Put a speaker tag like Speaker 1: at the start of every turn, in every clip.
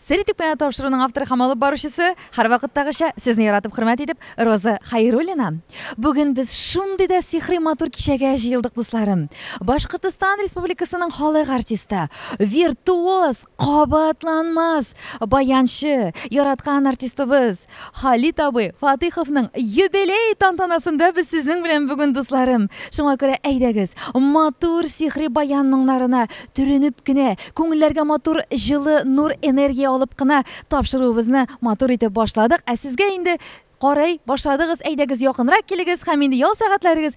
Speaker 1: Сер итү пенаты тапшыруның авторы һәм алып баручысы, һәрвакыттагыча, сезне яратып хөрмәт итеп, Роза Хәйруллина. Бүген без шундый да сихри матур кичәгә җыелдык, дусларым. Башкортостан Республикасының халык артисты, виртуоз, кабатланмас баянчы, яраткан артистыбыз, Халит абый Фатыйховның юбилей тантанасында без сезнең белән бүген, дусларым. Шуңа күрә әйдәгез, матур сихри баян моңнарына төренеп кенә, күңелләргә матур җылы нур энергия алып кына тапшыруыбызны матур итеп башладык. Ә сезгә инде карый башладыгыз, әйдәгез якынрак килегез һәм инде ял сәгатьләрегез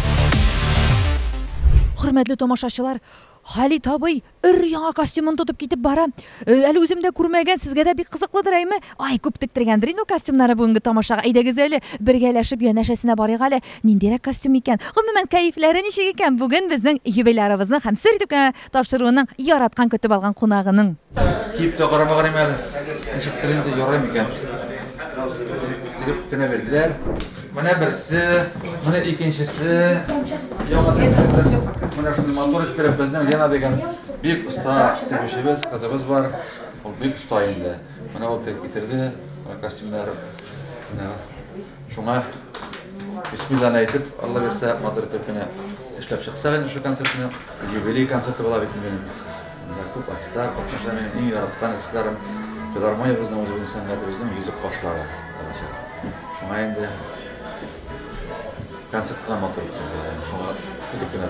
Speaker 1: Хөрмәтле тамашачылар, Халит абый өр яңа костюмын тотып китеп бара. Э, әле үзем дә күрмәгән, сезгә дә бик кызыклыдыр, әйме? Ай, күп тектергәндер инде костюмнары бүгенге тамашага. Әйдәгез әле, бергәләшеп янәшәсенә барыйк әле. Ниндирәк костюм икән? Гомумән, кәефләре ничек икән? Бүген безнең юбилярыбызны һәм сер итеп кенә Тапшыруының яраткан көтеп алган кунагының. Киеп тә карамаган
Speaker 2: идем әле. Ничектер инде ярый микән? Тегеп кенә бирделәр. Менә берсе, менә икенчесе. Яңа тегеп, менә шундый матур иттереп безнең Лена дигән бик оста тегүчебез, кызыбыз бар. Ул бик оста инде. Менә ул тегеп китерде костюмнар. Менә. Шуңа бисмилланы әйтеп, Алла бирсә, матур итеп кенә эшләп чыксак инде шул концертны. Юбилей концерты була бит минем. Анда күп артистлар катнаша, минем иң яраткан артистларым. Филармониябезнең үзебезнең сәнгатебезнең йөзек кашлары булачак. Шуңа инде концертка матур итсәк, шуңа итеп кенә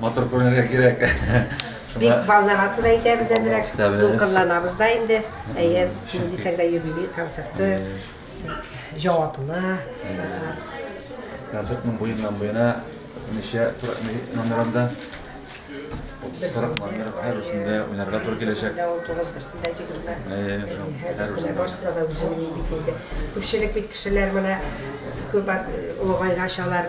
Speaker 2: Матур күренергә кирәк. Бик
Speaker 3: балларасы да әйтәбез әзрәк. Дулкынланабыз да инде. Әйе, ни дисәң дә юбилей концерты. Җаваплы.
Speaker 2: Концертның буеннан буена ничә номерында? 30-40 номер һәрберсендә уйнарга туры киләчәк. Берсендә ул тугыз, берсендә
Speaker 3: җигерме. Һәрберсендә барысында да үзеңнең бит инде. Күпчелек бит кешеләр менә күп олыгайгач алар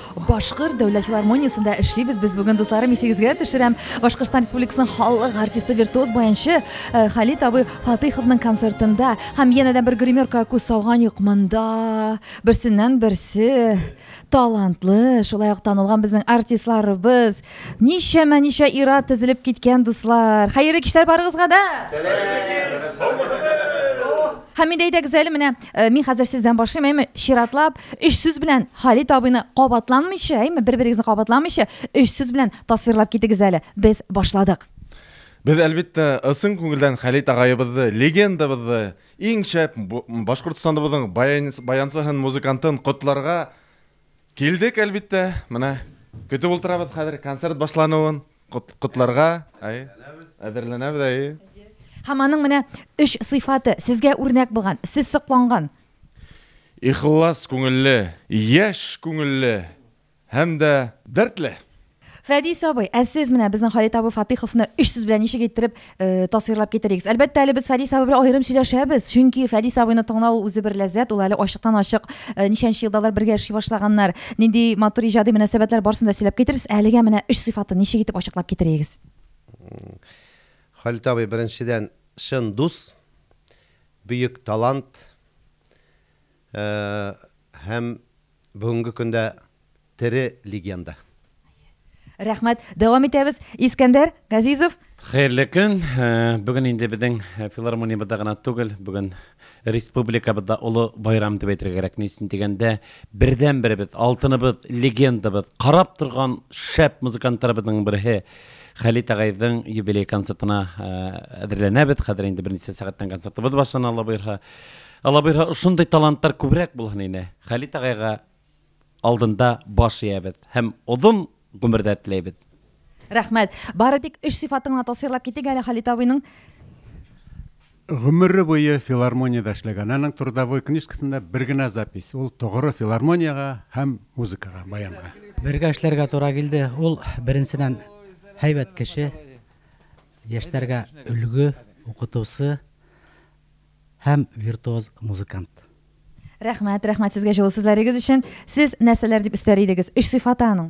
Speaker 1: Башкорт дәүләт филармониясендә эшлибез без бүген, дусларым, исегезгә төшерәм, Башкортстан Республикасының халык артисты, виртуоз баянчы э, Халит абый Фатыйховның концертында һәм янәдән бер гримерка күз салган юк монда. Берсеннән берсе талантлы, шулай ук танылган безнең артистларыбыз. Ничәмә ничә ира тезелеп киткән дуслар. Хәерле кичләр барыгызга да. Һәм инде әйдәгез әле менә э, мин хәзер сездән башлыйм, әйме, чиратлап Өч сүз белән Халит абыйны кабатланмыйча, әйме, бер-берегезне кабатламыйча, өч сүз белән тасвирлап китегез әле. Без башладык. Без,
Speaker 4: әлбиттә, ысын күңелдән Халит агаебызды, легендабызды, иң шәп Башкортстаныбызның баянсыһын, музыкантын котларга килдек, әлбиттә. Менә көтеп ултырабыз хәзер концерт башлануын котларга. Әй, әзерләнәбез, әй. Һәм
Speaker 1: аның менә өч сыйфаты сезгә үрнәк булган, сез сокланган.
Speaker 4: Ихлас күңелле, яшь күңелле һәм дә дәртле. Фәдис
Speaker 1: абый, ә сез менә безнең Халит абый Фатыйховны өч сүз белән ничек иттереп э, тасвирлап китерегез? Әлбәттә, әле без Фәдис абый белән аерым сөйләшәбез, чөнки Фәдис абыйны тыңлау ул үзе бер ләззәт, ул әле ачыктан-ачык э, ничәнче елда алар бергә эшли башлаганнар, нинди матур иҗади мөнәсәбәтләр барсын да сөйләп китерерсез. Әлегә менә өч сыйфатын ничек итеп ачыклап китерегез?
Speaker 5: Халит абый, беренчедән, чын дус, Бөек талант һәм бүгенге көндә тере легенда.
Speaker 1: Рәхмәт. Дәвам итәбез. Искәндәр Газизов. Хәерле көн.
Speaker 6: Бүген инде безнең филармониябездә генә түгел, бүген республикабызда олы байрам дип әйтергә кирәк. Ни өчен дигәндә, бердәнберебез, алтыныбыз, легендабыз, карап торган шәп музыкантларыбызның берсе, Хәлит агайдың юбилей концертына әзерләнәбез. Хәзер инде берничә сәгатьтән концертыбыз башлана, Алла боерһа. Алла боерһа, шундый талантлар күбрәк булһын иде. Хәлит агайга алдында баш иябез һәм озын гомердә теләйбез. Рәхмәт.
Speaker 1: Бары тик өч сыйфатын гына тасвирлап китик әле Хәлит абыйның. Гомере
Speaker 7: буе филармониядә эшләгән. Аның трудовой книжкасында бер генә запись, ул тогыры филармониягә һәм музыкага, баянга. Бергә эшләргә туры
Speaker 8: килде. Ул, беренчедән, һәйбәт кеше, яшьтәргә өлге, укытучы һәм виртуоз музыкант. Рәхмәт,
Speaker 1: рәхмәт сезгә җылы сүзләрегез өчен. Сез нәрсәләр дип өстәр идегез? Өч сыйфаты аның?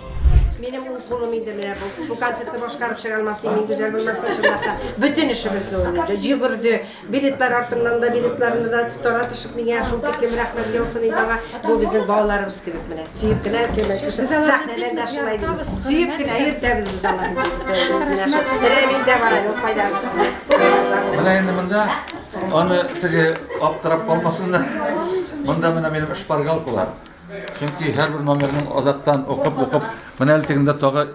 Speaker 3: Минем ул кулым инде менә бу. Бу концертны башкарып чыга алмас мин гүзәл булмаса чынлап та. Бөтен эшебезне уйнады, йөгерде. Билетлар артыннан да, билетларны да таратышып миңа шул тиклем рәхмәт яусын инде аңа. Бу безнең балаларыбыз кебек менә. Сөеп кенә әкелмәк өчен. Сәхнәдән дә шулай дип. Сөеп кенә йөртәбез без аларны. Менә шул. Рәмил дә бар әле, ул кайда?
Speaker 2: Менә инде монда аны теге аптырап калмасыннар. Монда менә минем шпаргалкалар. Чөнки һәрбер номерның азактан укып-укып, менә әле тегендә тагы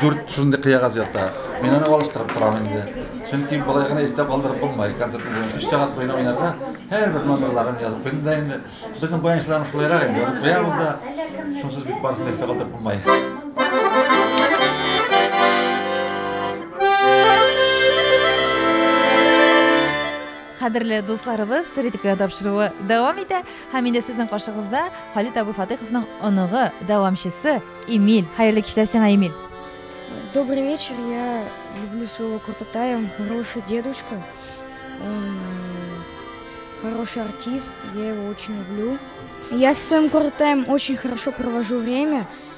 Speaker 2: дүрт шундый кыягаз ята. Мин аны алыштырып торам инде. Чөнки болай гына истә калдырып булмый. Концертны бүген 3 сәгать буена уйнарга һәрбер номерларын язып куйдым да инде. Безнең баянчыларның шулайрак инде. Язып куябыз да, шунсыз бит барысын да истә калдырып булмый.
Speaker 1: Кадерле дусларыбыз, ритм тапшыруы дәвам итә. Һәм инде сезнең каршыгызда Халит абый Фатыйховның оныгы, дәвамчысы Эмиль. Хәерле кичләр сиңа, Эмиль. Добрый
Speaker 9: вечер, я люблю своего Куртатая, он хороший дедушка, он э, хороший артист, я его очень люблю. Я со своим Куртатаем очень хорошо провожу время,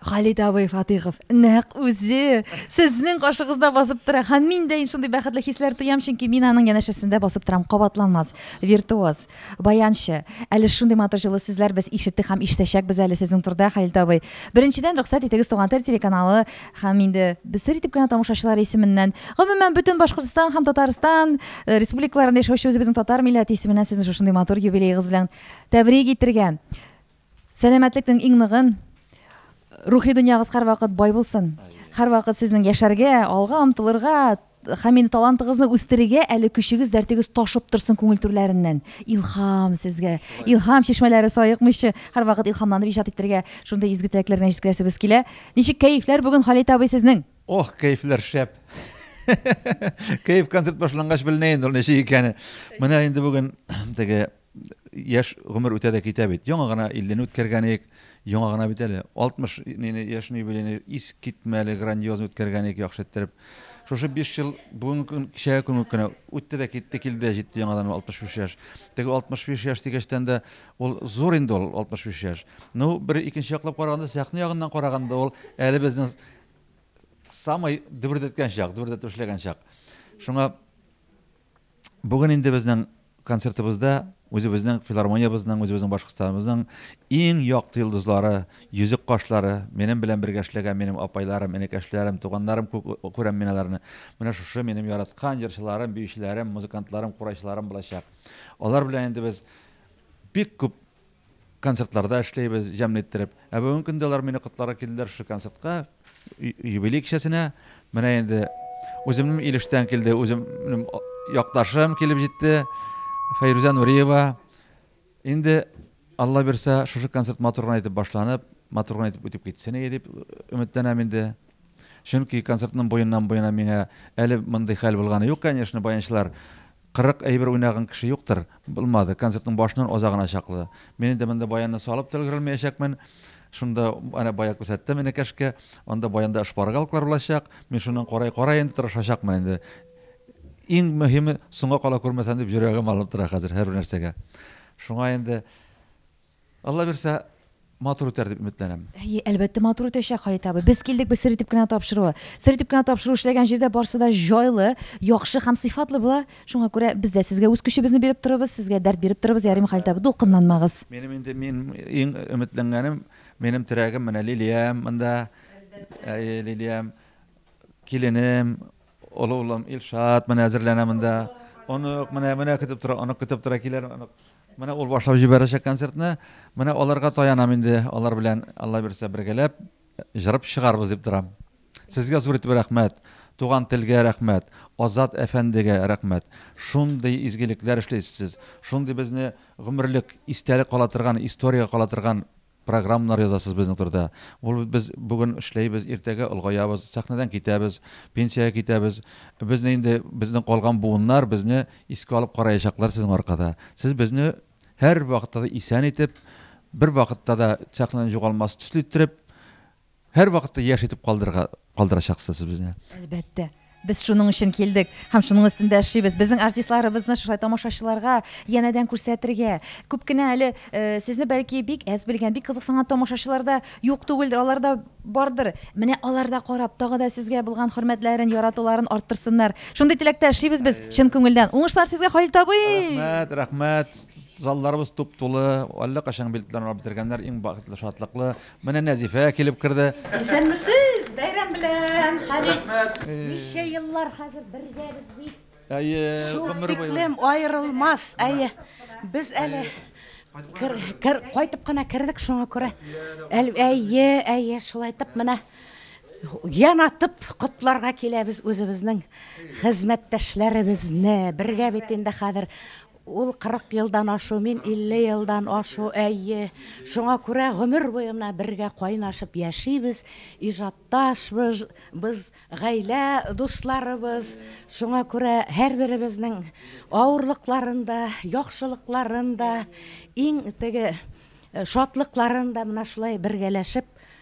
Speaker 1: Халит абый Фатыйхов нәкъ үзе сезнең каршыгызда басып тора һәм мин дә шундый бәхетле хисләр тоям, чөнки мин аның янәшәсендә басып торам. Кабатланмас, виртуоз, баянчы. Әле шундый матур җылы сүзләр без ишеттек һәм ишетәчәкбез әле сезнең турда, Халит абый. Беренчедән, рөхсәт итегез, Туган тел телеканалы һәм инде без сер итеп кенә тамашачылар исеменнән, гомумән, бөтен Башкортстан һәм Татарстан э, республикаларында яшәүче үзебезнең татар милләте исеменнән сезне шушындый матур юбилеегыз белән тәбрик итергә. Сәламәтлекнең иң ныгын, рухи дөньягыз һәрвакыт бай булсын. Һәрвакыт сезнең яшәргә, алга омтылырга, һәм инде талантыгызны үстерергә әле көчегез, дәртегез ташып торсын күңел түрләреннән. Илһам сезгә. Илһам чишмәләре саекмыйча, һәрвакыт илһамланып иҗат итәргә, шундый изге теләкләр белән җиткерәсебез килә. Ничек кәефләр бүген Халит абый сезнең? Ох, кәефләр
Speaker 2: шәп. Кәеф концерт башлангач беленә инде ул ничек икәне. Менә инде бүген теге Яшь гомер үтә дә китә бит. Яңа гына 50-не үткәргән идек. Яңа гына бит әле. 60 нене яшен юбилейны ис китмә әле грандиозно үткәргән идек яхшы иттереп. Шушы 5 ел бүгенге көн кичәгә күн кенә үтте дә китте, килде дә җитте яңадан 65 яшь. Теге 65 яшь дигәчтән дә ул зур инде ул 65 яшь. Ну, бер икенче яклап караганда, сәхнә ягыннан караганда ул әле безнең самый дөбердәткән чак, дөбердәтеп эшләгән чак. Шуңа Бүген инде безнең концертыбызда үзебезнең филармониябезнең, үзебезнең Башкортстаныбызның иң якты йолдызлары, йөзек кашлары, минем белән бергә эшләгән минем апайларым, энекәшләрем, туганнарым күп күрәм мин аларны. Менә шушы минем яраткан җырчыларым, биючеләрем, музыкантларым, курайчыларым булачак. Алар белән инде без бик күп концертларда эшләйбез, җәмле иттереп. Ә бүген көндә алар мине котларга килделәр шушы концертка, юбилей кичәсенә. Менә инде үземнең Илештән килде, үземнең якташым килеп җитте, Фәйрүзә Нуриева. Инде Алла бирсә, шушы концерт матур гына итеп башланып, матур гына итеп үтеп китсен иде дип өметләнәм инде. Чөнки концертның буеннан-буена миңа әле мондый хәл булганы юк, конечно, баянчылар Кырык әйбер уйнаган кеше юктыр. Булмады, концертның башыннан азагына чаклы. Мин инде монда баянны салып та өлгерелмәячәкмен. Шунда, әнә бая күрсәттем энекәшкә. Анда баянда шпаргалклар булачак. Мин шуннан карай-карай инде тырышачакмын инде. Иң мөһиме, соңга кала күрмәсәм дип йөрәгем алынып тора хәзер һәрбер нәрсәгә. Шуңа инде Алла бирсә, матур үтәр дип өметләнәм. Әйе, әлбәттә, матур
Speaker 1: үтәчәк, Хаят абый. Без килдек бит сер итеп кенә тапшыруы. Сер итеп кенә тапшыру эшләгән җирдә барсы да җайлы, яхшы һәм сыйфатлы була. Шуңа күрә без дә сезгә үз көчебезне биреп торырбыз, сезгә дәрт биреп торырбыз, ярыймы, Халит абый? Дулкынланмагыз. Минем инде мин
Speaker 2: иң өметләнгәнем, минем терәгем менә Лилиям монда. Әлбәттә. Әйе, Лилиям, киленем, олы улым Илшат менә әзерләнә монда. Онык менә, менә көтеп тора, онык көтеп тора, килер онык. Менә ул башлап җибәрәчәк концертны. Менә аларга таянам инде. Алар белән Алла бирсә бергәләп җырып чыгарбыз дип торам. Сезгә зур итеп рәхмәт. Туган телгә рәхмәт. Азат әфәндегә рәхмәт. Шундый изгелекләр эшлисез сез. Шундый безне гомерлек истәлек кала торган, историягә кала торган Программнар язасыз безнең турыда. Ул без бүген эшләйбез, иртәгә олгаябыз, сәхнәдән китәбез, пенсиягә китәбез. Безне инде безнең калган буыннар безне искә алып караячаклар сезнең аркада. Сез безне һәрвакытта да исән итеп, бервакытта да сәхнәдән югалмас төсле иттереп, Һәрвакытта яшь итеп калдырырга калдырачаксыз сез безне. Әлбәттә.
Speaker 1: Без шуның өчен килдек һәм шуның өстендә эшлибез. Безнең артистларыбызны шулай тамашачыларга янәдән күрсәтергә. Күп кенә әле э, сезне бәлки бик әз белгән, бик кызыксынган тамашачылар да юк түгелдер, алар да бардыр. Менә алар да карап, тагы да сезгә булган хөрмәтләрен, яратуларын арттырсыннар. Шундый теләктә эшлибез без чын күңелдән. Уңышлар сезгә, Халил табый! Рәхмәт, рәхмәт.
Speaker 2: Залларыбыз туп-тулы, әллә кайчан билетларын алып бетергәннәр, иң бакытлы, шатлыклы. Менә Нәзифә килеп керде. Исәнмесез!
Speaker 10: Бәйрәм белән, Халик! Ничә еллар хәзер бергәбез бит. Әйе, гомер буе. Шул тиклем аерылмас, әйе. Без әле кайтып кына кердек, шуңа күрә. Әйе, әйе, шулай итеп менә ян атып котларга киләбез үзебезнең хезмәттәшләребезне. Бергә бит инде хәзер Ул кырык елдан ашу, мин илле елдан ашу, әйе. Шуңа күрә гомер буе менә бергә кайнашып яшибез, иҗатташбыз, без гаилә дусларыбыз. Шуңа күрә һәрберебезнең авырлыкларын да, яхшылыкларын да, иң теге шатлыкларын да менә шулай бергәләшеп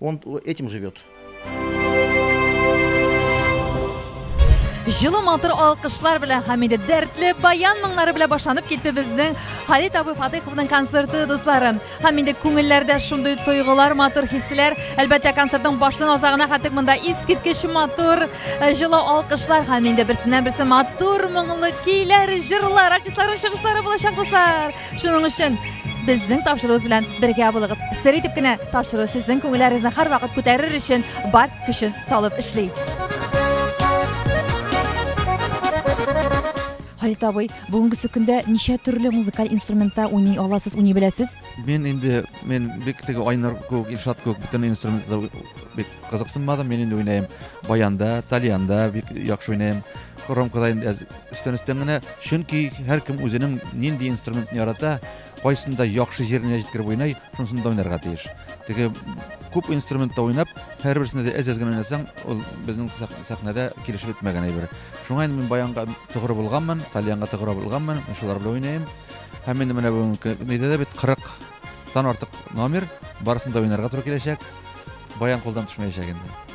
Speaker 11: Он этим живет.
Speaker 1: Җылы матур алкышлар белән һәм инде дәртле баян моңнары белән башланып китте безнең Халит абый Фатыйховның концерты дусларым. Һәм инде күңелләрдә шундый тойгылар, матур хисләр. Әлбәттә, концертның башын азагына хәтик монда искиткеч матур э, җылы алкышлар һәм инде берсеннән берсе матур моңлы көйләр, җырлар, артистларның чыгышлары булачак дуслар. Шуның өчен безнең тапшыруыбыз белән бергә булыгыз. Сер итеп кенә тапшыру сезнең күңелләрегезне һәрвакыт күтәрер өчен бар көчен салып эшли. Халит абый, бүгенгесе көндә ничә төрле музыкаль инструментта уйный аласыз, уйный беләсез? Мин инде
Speaker 2: мин бик теге Айнар кебек, Илшат кебек бөтен инструментта бик кызыксынмадым. Мин инде уйныйм баянда, тальянда бик яхшы уйныйм. Хромкада инде Өстән өстән генә, чөнки һәркем үзенең нинди инструментны ярата, кайсында яхшы җиренә җиткереп уйный, шунысында уйнарга тиеш. Теге күп инструментта уйнап, һәрберсендә дә әз-әз генә уйнасаң, ул безнең сәхнәдә килешеп бетмәгән әйбер. Шуңа инде мин баянга тугры булганмын, тальянга тугры булганмын, шулар белән уйныйм. Һәм инде менә бүгенге нидә дә бит 40 тан артык номер, барысын да уйнарга туры киләчәк. Баян кулдан төшмәячәк инде.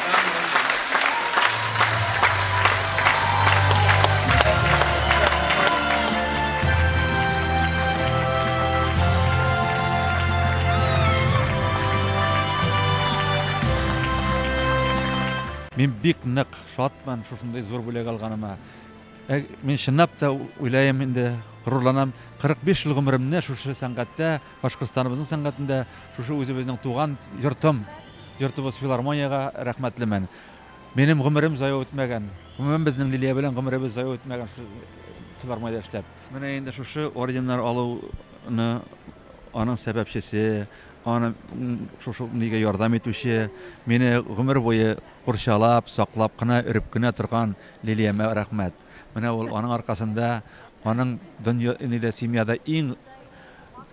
Speaker 2: Мин бик нык шатмын шушындый зур бүләк алганыма. Ә, мин чынлап та уйлаем инде, горурланам. 45 ел гомеремне шушы сәнгатьтә, Башкортстаныбызның сәнгатендә, шушы үзебезнең туган йортым Йортыбыз филармониягә рәхмәтлемен. Минем гомерем зая үтмәгән. Гомумән, безнең Лилия белән гомеребез зая үтмәгән шул филармониядә эшләп. Менә инде шушы орденнар алуны аның сәбәпчесе, аны шушы нигә ярдәм итүче, мине гомер буе курчалап, саклап кына, өреп кенә торган Лилиямә рәхмәт. Менә ул, аның аркасында, аның дөнья, нидә, семьяда иң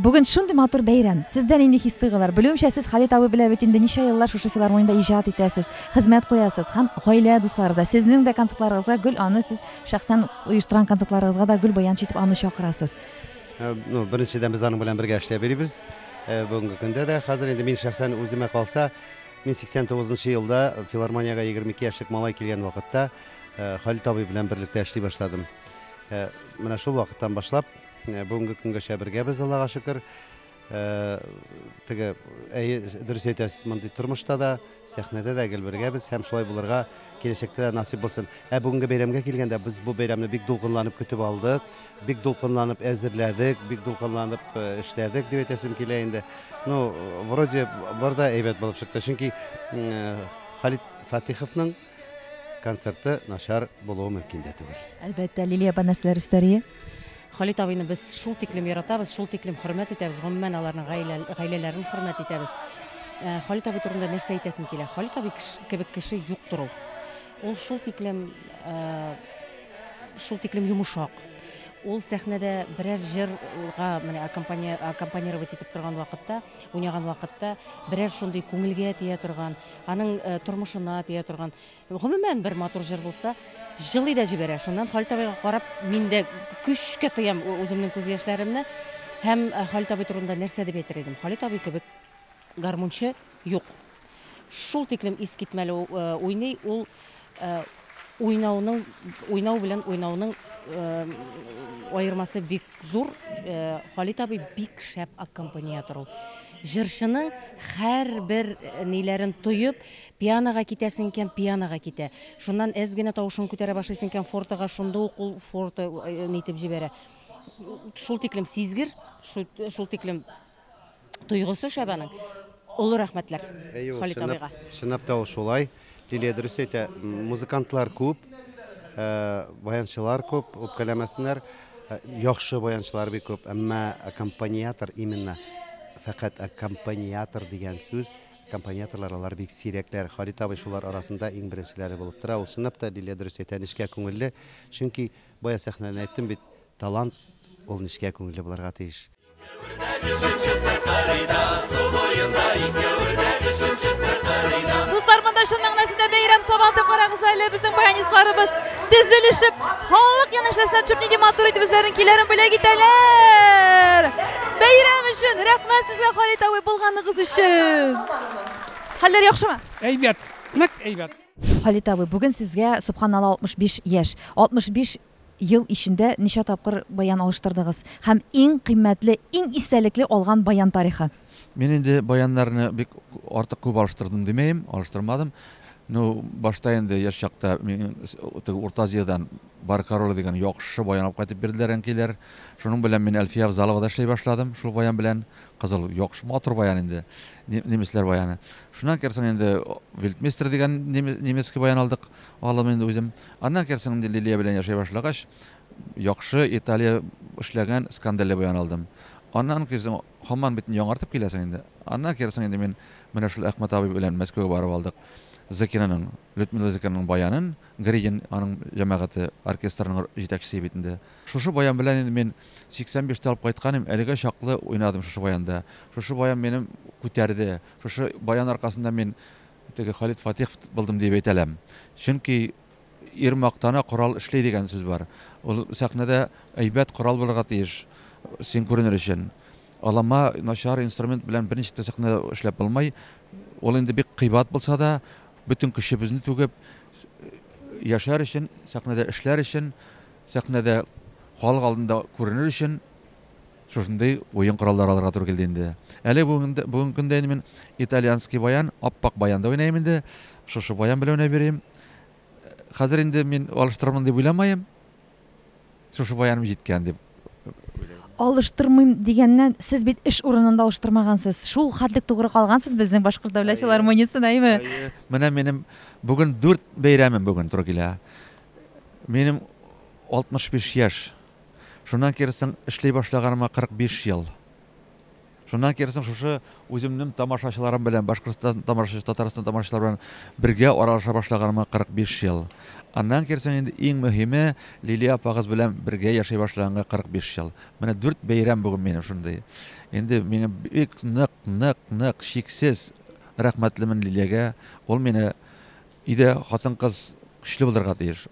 Speaker 1: Бүген шундый матур бәйрәм. Сездә нинди хис-тойгылар? Белүемчә, сез Халит абый белән бит инде ничә еллар шушы филармониядә иҗат итәсез, хезмәт куясыз һәм гаилә дуслары да, сезнең дә концертларыгызга гел аны сез шәхсән оештырган концертларыгызга да гел баянчы итеп аны чакырасыз. Ну,
Speaker 5: беренчедән без аның белән бергә эшләп йөрибез. Бүгенге көндә дә. Хәзер инде мин шәхсән үземә калса, мин 89 нчы елда филармониягә 22 яшьлек малай килгән вакытта Халит абый белән берлектә эшли башладым. Ә менә шул вакыттан башлап, ә, бүгенге көнгәчә бергәбез, Аллага шөкер. Ә, теге, әйе, дөрес әйтәсез, мондый тормышта да, сәхнәдә дә гел бергәбез һәм шулай булырга киләчәктә дә насыйп булсын. Ә бүгенге бәйрәмгә килгәндә, без бу бәйрәмне бик дулкынланып көтеп алдык, бик дулкынланып әзерләдек, бик дулкынланып э, эшләдек, дип әйтәсем килә инде. Ну, вроде бар да әйбәт булып чыкты, чөнки м, э, Халит Фатиховның концерты начар булуы мөмкин дә түгел. Әлбәттә, Лилия апа
Speaker 1: нәрсәләр өстәри? Халит абыйны
Speaker 12: без шул тиклем яратабыз, шул тиклем хөрмәт итәбез, гомумән, аларның гаилә, гаиләләрен хөрмәт итәбез. Ә, Халит абый турында нәрсә әйтәсем килә? Халит абый кеше, кебек кеше юктыр ул. Ул шул тиклем, ә, шул тиклем йомышак. Ул сәхнәдә берәр җырга менә аккомпани- аккомпанировать итеп торган вакытта, уйнаган вакытта, берәр шундый күңелгә тия торган, Аның тормышына тия торган, гомумән, бер матур җыр булса, җылый да җибәрә. Шуннан Халит абыйга карап, мин дә көчкә тыям үземнең күз яшьләремне. Һәм Халит абый турында нәрсә дип әйтер идем? Халит абый кебек гармунчы юк. Шул тиклем искитмәле уйный ул. Уйнауның, уйнау белән уйнауның аермасы бик зур. Халит абый бик шәп аккомпаниатор ул. Җырчының һәрбер ниләрен тоеп, пианога китәсең икән, пианога китә. Шуннан әз генә тавышын күтәрә башлыйсың икән, фортога, шунда ук ул форта нитеп җибәрә. Шул тиклем сизгер, шул тиклем тойгысы шәп аның. Олы рәхмәтләр Әйе, ул Халит чынлап, абыйга. чынлап та ул шулай.
Speaker 5: Лилия дөрес әйтә, м, музыкантлар күп, ә, баянчылар күп, үпкәләмәсеннәр, ә, яхшы баянчылар бик күп, әмма аккомпаниатор, именно фәкать аккомпаниатор дигән сүз, аккомпаниаторлар алар бик сирәкләр. Халит абый шулар арасында иң беренчеләре булып тора. Ул чынлап та, Лилия дөрес әйтә, нечкә күңелле, чөнки бая сәхнәдән әйттем бит, талант ул нечкә күңелле булырга тиеш.
Speaker 1: Дуслар, монда чын мәгънәсендә бәйрәм сабаты карагыз әле безнең баянистларыбыз тезелешеп, халык янәшәсенә төшеп нинди матур итеп үзләренең көйләрен бүләк итәләр. Бәйрәм өчен рәхмәт сезгә Халит абый булганыгыз өчен. Хәлләр яхшымы? Әйбәт,
Speaker 7: нык әйбәт. Халит абый, бүген
Speaker 1: сезгә, субханалла, 65 яшь. 65 Ел ичендә ничә тапкыр баян алыштырдыгыз? Һәм иң кыйммәтле, иң истәлекле алган баян тарихы? Мин инде
Speaker 2: баяннарны бик артык күп алыштырдым димәем, алыштырмадым. Ну, башта инде яшь чакта мин теге Урта Азиядән Бар король дигән яхшы баян алып кайтып бирделәр әнкәйләр. Шуның белән мин Әлфия Авзаловада эшли башладым, шул баян белән. Кызыл, яхшы, матур баян инде, немецләр баяны. Шуннан кирсен инде Вельтмейстер дигән немецкий баян алдык, алым инде үзем. Аннан керсең инде Лилия белән яшәй башлагач, яхшы Италия эшләгән Скандале буян алдым. Аннан керсең, хаман бит яңартып киләсең инде. Аннан керсең инде мин менә шул Әхмәт абый белән Мәскәүгә барып алдык. Зыкинаның, Людмила Зыкинаның баянын, Гридин аның җәмәгате, оркестрының җитәкчесе бит инде. Шушы баян белән инде мин 85 тә алып кайткан идем, әлегә чаклы уйнадым шушы баянда. Шушы баян минем күтәрде. Шушы баян аркасында мин Теге Халит Фатиховт булдым диеп әйтә ләм. Чөнки ир мактана корал эшли дигән сүз бар. Ул сәхнәдә әйбәт корал булырга тиеш, син күренер өчен. Алама, начар инструмент белән берничек тә сәхнәдә эшләп булмый. Ул инде бик кыйбат булса да, бөтен көчебезне түгеп, яшәр өчен, сәхнәдә эшләр өчен, сәхнәдә халык алдында күренер өчен. Шушындый уен кораллары алырга туры килде инде. Әле бүгенге көндә инде мин итальянский баян, ап-ак баян да уйныйм инде. Шушы баян белән уйнап йөрим. Хәзер инде мин алыштырырмын дип уйламаем. Шушы баяным җиткән дип
Speaker 1: алыштырмыйм дигәннән, сез бит эш урынында алыштырмагансыз. Шул хәтлек тугры калгансыз безнең Башкорт дәүләт филармониясен, әйме? Менә минем
Speaker 2: бүген дүрт бәйрәмем бүген туры килә. Минем 65 яшь. Шуннан киресең эшли башлаганыма 45 ел. Шуннан киресең шушы үземнем тамашачыларым белән, Башкортстан тамашачы, Татарстан тамашачылары белән бергә аралаша башлаганыма 45 ел. Аннан киресең инде иң мөһиме, Лилия апагыз белән бергә яшәй башлаганга 45 ел. Менә дүрт бәйрәм бүген минем шундый. Инде миңа бик нык, нык, нык, чиксез рәхмәтлемен Лилиягә. Ул мине, өйдә хатын-кыз көчле булырга тиеш.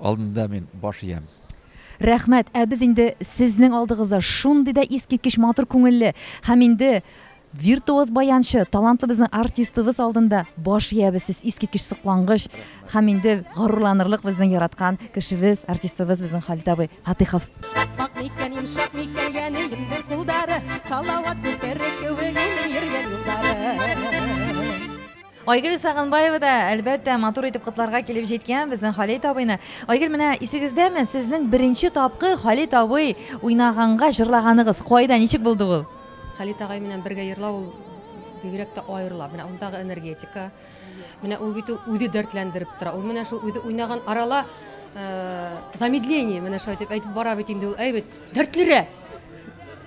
Speaker 2: Алдында мин баш иям. Рәхмәт,
Speaker 1: ә без инде сезнең алдыгызда шундый да искиткеч матур күңелле һәм инде виртуоз баянчы, талантлы безнең артистыбыз алдында баш иябез, сез искиткеч соклангыч һәм инде горурланырлык безнең яраткан кешебез, артистыбыз безнең Халит абый Фатыйхов. Ак микән, йомшак микән, янәем бер кулдары, салават күтәрер кебек, юлым йөргән юллары. Айгөл Сагынбаева да, әлбәттә, матур итеп котларга килеп җиткән безнең Халит абыйны. Айгөл, менә исегездәме, сезнең беренче тапкыр Халит абый уйнаганга җырлаганыгыз, кайда, ничек булды ул? Халит агай менән
Speaker 13: бергә йырлау ул бигрәк тә аерыла. Менә ундагы энергетика. Менә ул бит үзе дәртләндереп тора. Ул менә шул үзе уйнаган арала замедление, менә шулай итеп әйтеп бара бит инде ул, әй бит. Дәртлерәк.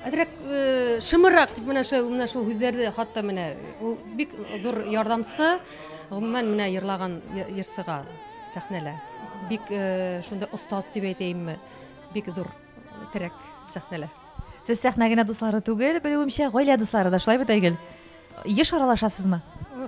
Speaker 13: Әзрәк э, шымырак дип менә шул менә шул һүзләрдә хатта менә ул бик зур ярдәмче. Гомумән менә йырлаган йырсыга сәхнәлә. Бик э, шунда остаз дип әйтәйемме? Бик зур терәк сәхнәлә. Сез сәхнә
Speaker 1: генә дуслары түгел, белүемчә, гаилә дуслары да шулай бит, Айгөл? Еш аралашасызмы?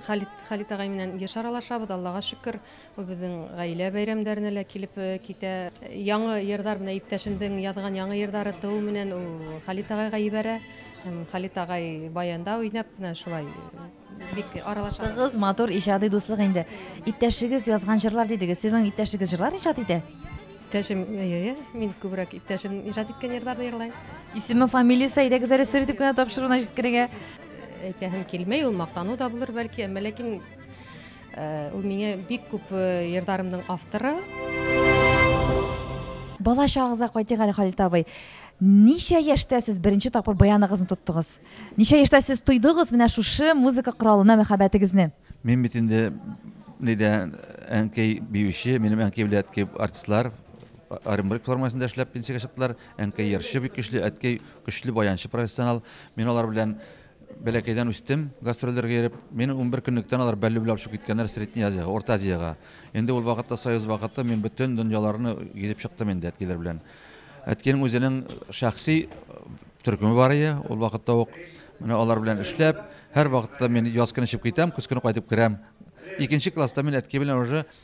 Speaker 1: Халит Халит
Speaker 13: агай менән еш аралашабыз, Аллага шөкер. Ул безнең гаилә бәйрәмнәренә лә килеп китә. Яңы йырдар менә иптәшемнең язган яңы йырдары туу менән ул Халит агайга ибәрә. Һәм Халит агай баянда уйнап менә шулай бик аралаша. Тыгыз, матур иҗади дуслык
Speaker 1: инде. Иптәшегез язган җырлар дидегез. Сезнең иптәшегез җырлар иҗат итә? Иптәшем,
Speaker 13: әйе, мин күбрәк иптәшем иҗат иткән йырларны җырлыйм. Исеме, фамилиясе,
Speaker 1: әйдәгез әле сер итеп кенә тапшыруына җиткерергә. Әйтәһем
Speaker 13: килми, ул мактану да булыр бәлки, әмма ләкин Ул миңа бик күп ярдарымның авторы. Бала
Speaker 1: чагыгызга кайтыйк әле, Халит абый. Ничә яшьтә сез беренче тапкыр баяныгызны тоттыгыз? Ничә яшьтә сез тойдыгыз менә шушы музыка коралына мәхәббәтегезне? Мин бит инде
Speaker 2: нидә әнкәй биюче, минем әнкәй белән әткәй артистлар Оренбург формасында эшләп пенсиягә чыктылар. Әнкәй ярчы бик көчле, әткәй көчле баянчы профессионал. Мин алар белән Бәләкәйдән үстем, гастрольләргә йөреп. Мине унбер көнлектән алар бәллүбләп очып киткәннәр Средняя Азиягә, Урта Азиягә. Инде ул вакытта Союз вакыты, мин бөтен дөньяларны гизеп чыктым инде әткиләр белән. Әткинең үзенең шәхси төркеме бар ие, ул вакытта ук менә алар белән эшләп, һәрвакытта мин яз көне чыгып китәм, көз көне кайтып керәм. Икенче класста мин әтки белән уже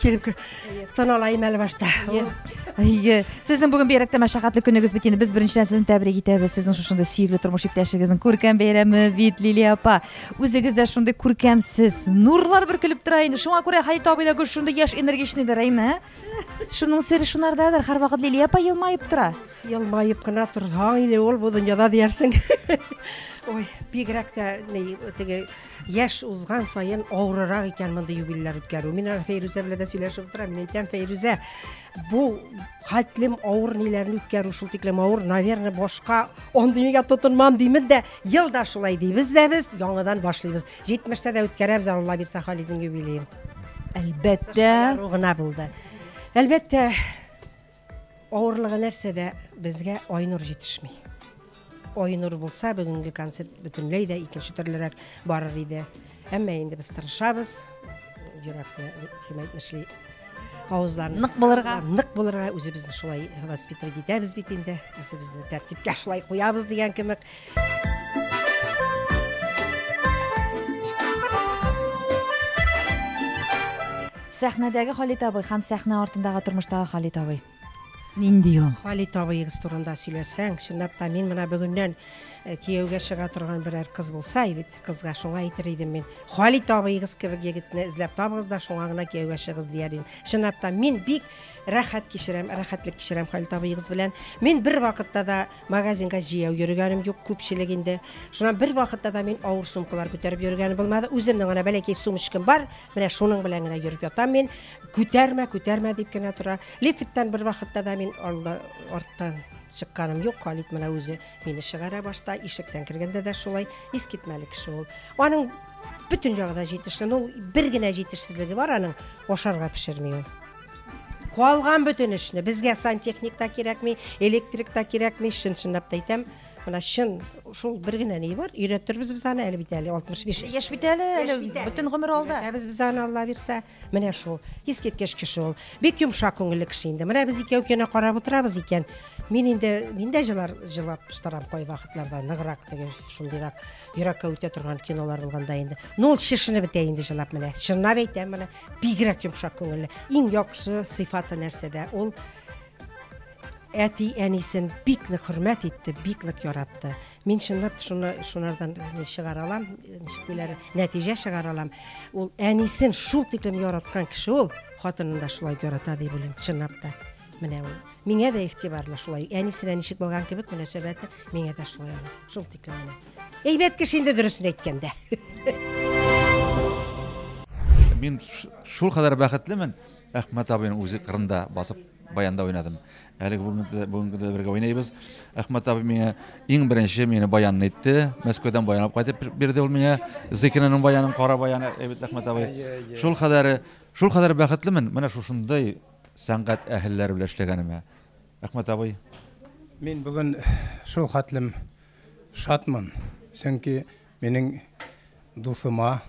Speaker 3: Килеп кер. Тон алайым әле башта. Әйе.
Speaker 1: Сезнең бүген бигрәктә мәшәкатьле көнегез бит инде. Без беренчедән сезне тәбрик итәбез. Сезнең шушындый сөекле тормыш иптәшегезнең күркәм бәйрәме бит Лилия апа. Үзегез дә шундый күркәмсез. Нурлар бөркелеп тора инде. Шуңа күрә Хәй табыйда гүр шундый яшь энергичныйдыр, әйме? Шуның сере шунардадыр. Һәрвакыт Лилия апа елмаеп тора. Елмаеп кына
Speaker 3: торсаң инде ул бу дөньяда диярсең. Ой, бигрәк тә ни теге яшь узган саен авырырак икән мондый юбилейлар үткәрү. Мин аны Фәйрүзә белән дә сөйләшеп утырам. Мин әйтәм, Фәйрүзә, бу хәтлем авыр ниләрне үткәрү шул тиклем авыр, наверное, башка андый нигә тотынмам димин дә, ел да шулай дибез дә без, яңадан башлыйбыз. 70-тә дә үткәрәбез, Алла бирсә, Халидның юбилеен. Әлбәттә.
Speaker 1: Гына булды.
Speaker 3: Әлбәттә, Авырлыгы нәрсәдә, безгә Айнур җитешми. Айнур булса, бүгенге концерт бөтенләй дә икенче төрлерәк барыр иде. Әмма инде без тырышабыз, йөрәкне ким әйтмешли, авызларны нык булырга,
Speaker 1: нык булырга
Speaker 3: үзебезне шулай воспитывать итәбез бит инде, үзебезне тәртипкә шулай куябыз дигән кебек.
Speaker 1: Сәхнәдәге Халит абый һәм сәхнә артындагы тормыштагы Халит абый. Нинди ул? Халит абыегыз турында
Speaker 3: сөйләсәң, чынлап та мин менә бүгеннән э, кияүгә чыга торган берәр кыз булса, бит кызга шуңа әйтер идем мин. Халит абыегыз кебек егетне эзләп табыгыз да шуңа гына кияүгә чыгыз дияр идем. Чынлап та мин бик рәхәт кичерәм, рәхәтлек кичерәм Халит абыегыз белән. Мин бер вакытта да Магазинга җәяү йөргәнем юк, күпчелек инде. Шуннан бер вакытта да мин авыр сумкалар күтәреп йөргәнем булмады. Үземнең генә бәләкәй сумочкам бар, менә шуның белән генә йөреп ятам мин. Күтәрмә, күтәрмә дип кенә тора. Лифттан бер вакытта да мин алда, арттан чыкканым юк. Халит менә үзе мине чыгара башта, ишектән кергәндә дә шулай. Искитмәле кеше ул. Аның бөтен ягы да җитешле. Ну, бер генә җитешсезлеге бар аның, ашарга пешерми ул. Калган бөтен эшне безгә сантехник та кирәкми, электрик та кирәкми, чын-чынлап та әйтәм. Менә чын шул бер генә ни бар, өйрәтербез без аны әле бит әле 65. Яшь бит әле, әле
Speaker 1: бөтен гомер алда. Ә без без аны Алла бирсә,
Speaker 3: менә шул. Искиткеч кеше ул. Бик йомшак күңелле кеше инде. Менә без икәү кенә карап утырабыз икән. Мин инде мин дә җылар җылап штарам кай вакытларда ныграк теге шундыйрак йөрәккә үтә торган кинолар булганда инде. Ну ул чишенеп бетә инде җылап менә. Чынлап әйтәм менә. бигрәк йомшак күңелле иң яхшы сыйфаты нәрсәдә ул әти әнисен бик нык хөрмәт итте бик нык яратты мин чынлап шуны шунардан чыгара алам ничек диләр нәтиҗә чыгара алам ул әнисен шул тиклем яраткан кеше ул хатынын да шулай ярата дип уйлыйм чынлап та менә ул миңа да игътибарлы шулай әнисенә ничек булган кебек мөнәсәбәте миңа да шулай шул тиклем менә Әйбәт кеше инде дөресен әйткәндә.
Speaker 2: Мин шул кадәр бәхетлемен, Әхмәт абыйның үзе кырында басып баянда уйнадым. Әлеге бүгенге дә бергә уйнайбыз. Әхмәт абый миңа иң беренче мине баянны әйтте. Мәскәүдән баянлап кайтып бирде ул миңа. Зыкинаның баянын, кара баяны, әйбәт Әхмәт абый. Шул кадәр, шул кадәр бәхетлемен. Менә шушындай сәнгать әһелләре белән эшләгәнемә. Әхмәт абый. Мин бүген
Speaker 7: шул хәтлем шатмын, чөнки минем дусыма,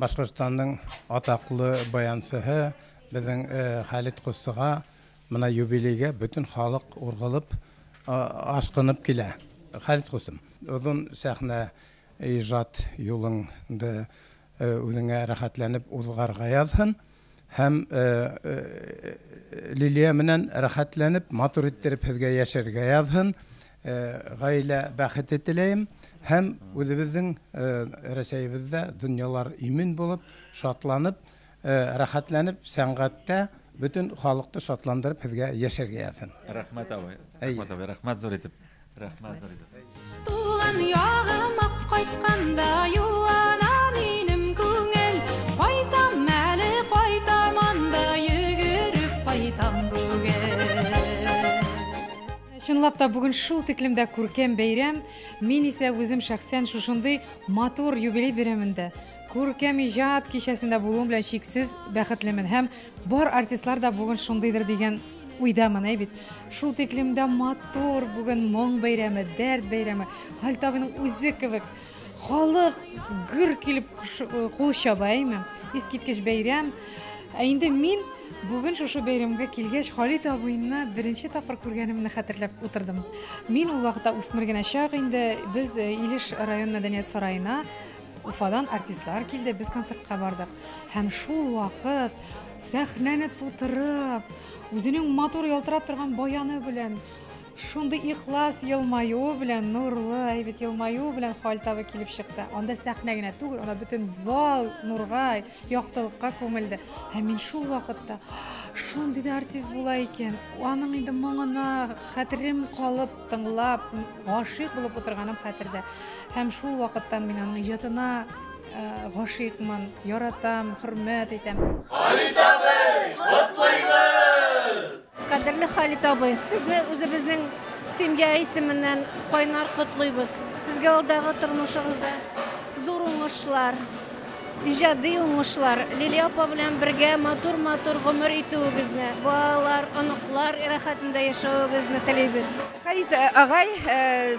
Speaker 7: Башкортстанның атаклы баянчыһы, безнең Халит костыга менә юбилейга бөтен халык ургылып, ашкынып килә. Халит кустым, озын сәхнә иҗат юлыңды үзеңә рәхәтләнеп узгарга язсын. Һәм
Speaker 14: Лилия менән рәхәтләнеп, матур иттереп һезгә яшәргә язһын. Гаилә бәхете теләем. Һәм үзебезнең Рәсәебездә дөньялар имин булып, шатланып, рәхәтләнеп, сәнгатьтә бөтен халыкты шатландырып һезгә яшәргә язһын. Рәхмәт абый. Әйе.
Speaker 2: Рәхмәт абый. Рәхмәт зур итеп. Рәхмәт зур итеп. Туган
Speaker 15: ягым ак кайтканда юана минем күңел. Кайтам әле кайтам анда йөгереп кайтам бүген.
Speaker 13: Чынлап та бүген шул тиклем дә күркәм бәйрәм. Мин исә үзем шәхсән шушындый матур юбилей бәйрәмендә күркәм иҗат кичәсендә булуым белән чиксез бәхетлемен һәм бар артистлар да бүген шундыйдыр дигән Уйдамын, әй бит. Шул тиклем дә матур, бүген моң бәйрәме, дәрт бәйрәме. Хәлит абыйның үзе кебек халык гөр килеп кул чаба, әйме? Искиткеч бәйрәм. Ә инде мин Бүген шушы бәйрәмгә килгәч, Халит абыйны беренче тапкыр күргәнемне хәтерләп утырдым. Мин ул вакытта үсмер генә чак инде, без э, Илеш район мәдәният сараена Уфадан артистлар килде, без концертка бардык. Һәм шул вакыт сәхнәне тутырып, үзенең матур ялтырап торган баяны белән, шундый ихлас елмаюы белән, нурлы, әйбәт елмаюы белән Халтавы килеп чыкты. Анда сәхнә генә түгел, анда бөтен зал нурга Яктылыкка күмелде. Һәм мин шул вакытта шундый да артист була икән. Аның инде моңына хәтерем калып, тыңлап, гашыйк булып утырганым хәтердә. Һәм шул вакыттан мин аның иҗатына Э, гашыйкмын, яратам, хөрмәт итәм. Халит
Speaker 15: абый, котлыйбыз! Кадерле
Speaker 16: Халит абый, сезне үзебезнең семья исеменнән кайнар котлыйбыз. Сезгә алдагы тормышыгызда зур уңышлар, иҗади уңышлар, Лилия апа белән бергә матур-матур гомер итүегезне, балалар, оныклар рәхәтендә яшәвегезне телибез. Халит э, агай
Speaker 17: э,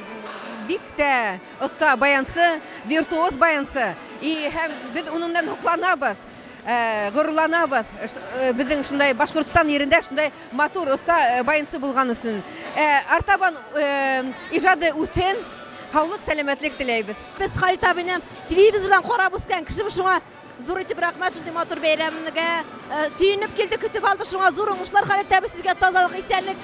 Speaker 17: бик тә оста баянчы, виртуоз баянчы. И һәм без уныңнан һокланабыз. Э, горурланабыз э, э, безнең шундай башкортстан ерендә шундай матур оста баянчы булган өчен артабан ижады үсен һаулык сәламәтлек теләйбез без халит абыйны
Speaker 18: телевизордан карап үскән кешебез шуңа зур итеп рәхмәт шундый матур бәйрәмгә сөенеп килдек көтеп алдык шуңа зур уңышлар халит абый сезгә тазалык исәнлек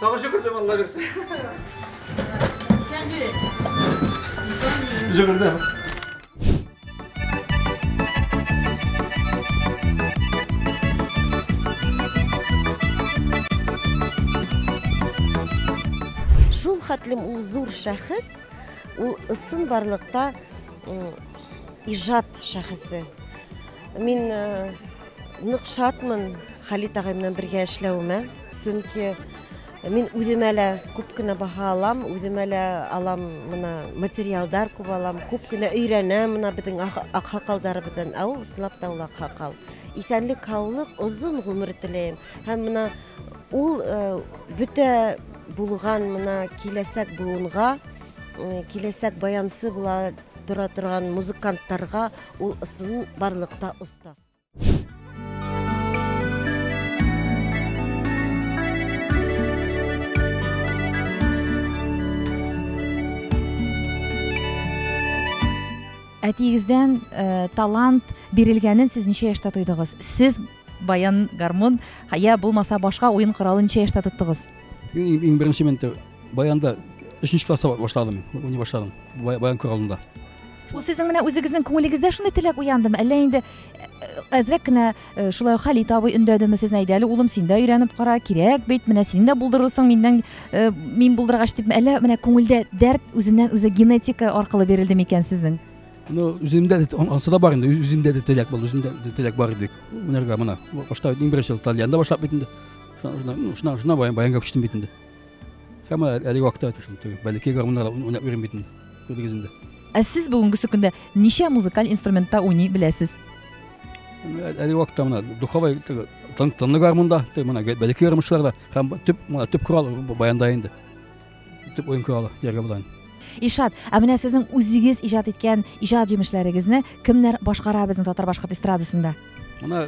Speaker 2: Тагы
Speaker 19: җөгердем, алла бирсә.
Speaker 2: Җөгердем.
Speaker 20: Шул хәтлем ул зур шәхес, ул ысын барлыкта м, иҗат шәхесе. Мин э, Нык шатмын Халит агай белән бергә эшләвемә. Чөнки мин үземә лә күп кенә баһа алам, үземә лә алам мына материалдар күп алам, күп кенә өйрәнәм мына безнең аксакалдарыбыздан. Ә ул ысынлап та ул аксакал. Исәнлек, һаулык, озын гомер теләйм. Һәм мына ул бөтә булган мына киләсәк буынга киләсәк баянчы була тора торган музыкантларга ул ысын барлыкта Тос.
Speaker 1: әтиегездән ә, э, талант бирелгәнен сез ничә яшьтә тойдыгыз сез баян гармун я булмаса башка уен коралын ничә яшьтә тоттыгыз иң, иң беренче
Speaker 21: мен Баянда өченче класста башладым, уйный башладым. Баян күр алдында. Ул сезнең менә
Speaker 1: үзегезнең күңелегездә шундый теләк уяндымы? Әллә инде э, әзрәк кенә э, шулай Халит абый өндәдеме сезне әйдә әле улым син дә өйрәнеп кара кирәк бит менә син дә булдырырсың миннән э, мин булдыргач дип әллә менә күңелдә дәрт үзеннән үзе генетика аркылы бирелде микән сезнең? Ну,
Speaker 21: үземдә ансы да бар инде, үземдә дә теләк булды, үземдә дә теләк бар иде. Уйнарга менә. Башта иң беренче тальянда башлап бит инде. Шуна баянга күчтем бит инде. Һәм әлеге вакытта шул теге бәләкәй гармуннар уйнап йөрим бит инде. Күрдегез инде. Ә сез бүгенге
Speaker 1: көндә ничә музыкаль инструментта уйный беләсез?
Speaker 21: Әлеге вакытта менә духовой теге тынлы гармунда, теге менә бәләкәй гармунчыларда һәм төп менә төп корал баянда инде. Төп уен коралы ярга булган.
Speaker 1: Ишат, ә менә сезнең үзегез иҗат иткән иҗат җимешләрегезне кемнәр башкара безнең татар башкорт эстрадасында? Менә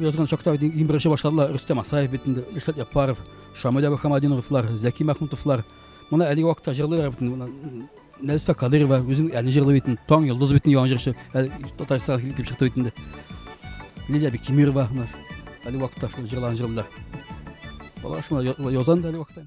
Speaker 21: язган чакта иң беренче башладылар Рөстәм Асаев бит инде, Ишат Яппаров, Шамилә Мөхәммәдиновлар, Зәки Мәхмүтовлар. Моны әлеге вакытта җырлыйлар бит. Нәрсә Кадырова үзен әле җырлый бит. Таң йолдыз бит яңа җырчы. Татарстан килеп чыкты бит инде. Лилия Бекимирова менә әлеге вакытта шул җырларын җырлыйлар. Алар шуны язан да әлеге вакытта.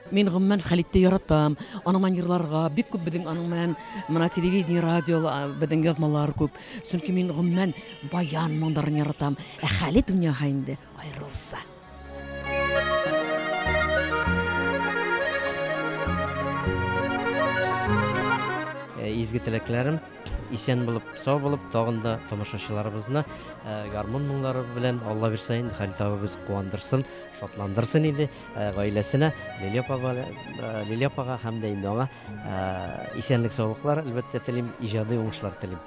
Speaker 6: Мин гомумән Хәлитте яратам. Аның менән йырларга бик күп безнең аның менән менә телевидение, радио безнең язмалар күп. Чөнки мин гомумән баян моңнарын яратам. Ә Хәлит дөньяга инде аерылса.
Speaker 8: Э, изге теләкләрем исән булып, сау булып, тагын да тамашачыларыбызны э, гармун моңнары белән Алла бирсә инде Хәлит абыбыз куандырсын, шатландырсын иде. Гаиләсенә, Лилия апага, Лилия апага һәм дә инде аңа исәнлек-саулыклар, әлбәттә, телим, иҗади уңышлар телим.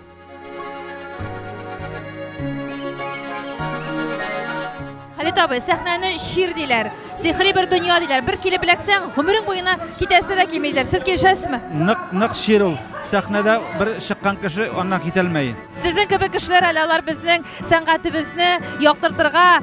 Speaker 1: Хәлит абый, сәхнәне чир диләр, сихри бер дөнья диләр. Бер килеп эләксәң, гомерең буена китәсе дә килми диләр. Сез килешәсезме? Нык, нык чир
Speaker 2: ул. Сәхнәдә бер чыккан кеше аннан китәлмәй. Сезнең кебек кешеләр
Speaker 1: әле алар безнең сәнгатебезне яктыртырга,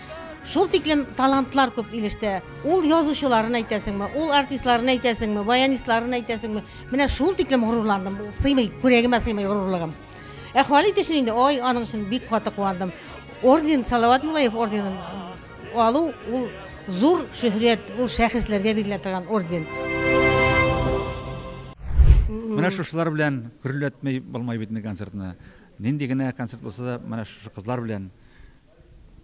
Speaker 3: Шул тиклем талантлар күп Илештә. Ул язучыларын әйтәсеңме, ул артистларын әйтәсеңме, баянистларын әйтәсеңме? Менә шул тиклем горурландым. Сыймый, күрәгемә сыймый горурлыгым. Ә Халит өчен инде, ой, аның өчен бик каты куандым. Орден, Салават Юлаев орденын алу, ул зур шөһрәт, ул шәхесләргә бирелә торган орден.
Speaker 2: Менә шушылар белән гөрләтми булмай бит инде концертны. Нинди генә концерт булса да, менә шушы кызлар белән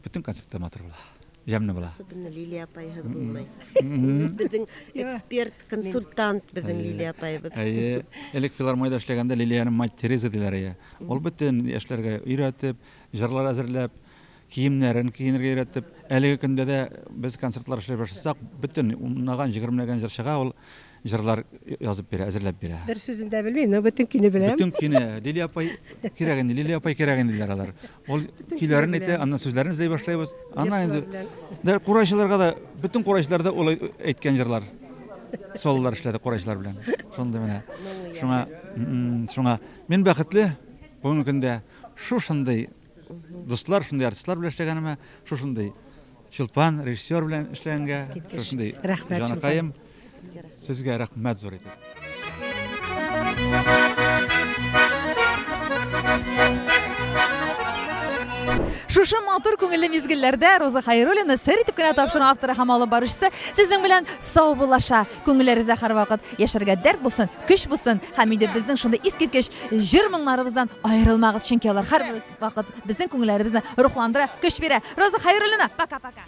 Speaker 2: Бөтен концертлар матур була. Җәмле була. Особенно Лилия апайһыз
Speaker 20: булмый. Безнең эксперт, консультант безнең Лилия апайыбыз. Әйе. Элек
Speaker 2: филармониядә эшләгәндә Лилияне мать Тереза диләр иде. Ул бөтен яшьләргә өйрәтеп, җырлар әзерләп, киемнәрен киенергә өйрәтеп, әлеге көндә дә без концертлар эшләп башласак, бөтен унлаган, егермеләгән җырчыга ул җырлар язып бирә, әзерләп бирә. Бер сүзен дә белмим, но
Speaker 3: бөтен көйне беләм. Бөтен көйне, Лилия
Speaker 2: апай кирәк инде, Лилия апай кирәк инде диләр алар. Ул көйләрен әйтә, аннан сүзләрен эзли башлыйбыз. Аннан инде дә курайчыларга да, бөтен курайчылар да ул әйткән җырлар. Сололар эшләде курайчылар белән. Шундый менә. Шуңа, шуңа мин бәхетле бүгенге көндә шушындый Дуслар, шундый артистлар белән эшләгәнемә, шушындый Чулпан режиссер белән эшләгәнгә, шушындый җаныкаем, сезгә рәхмәт зур итеп.
Speaker 1: Шушы матур күңелле мизгелләрдә Роза Хайруллина сер итеп кенә тапшырган авторы һәм алып баручысы сезнең белән саубуллаша. Күңелләре за һәрвакыт яшәргә дәрт булсын, көч булсын һәм инде безнең шундый искиткеч җыр моңнарыбыздан аерылмагыз, чөнки алар һәр вакыт безнең күңелләребезне рухландыра, көч бирә. Роза Хәйруллина, пока-пока.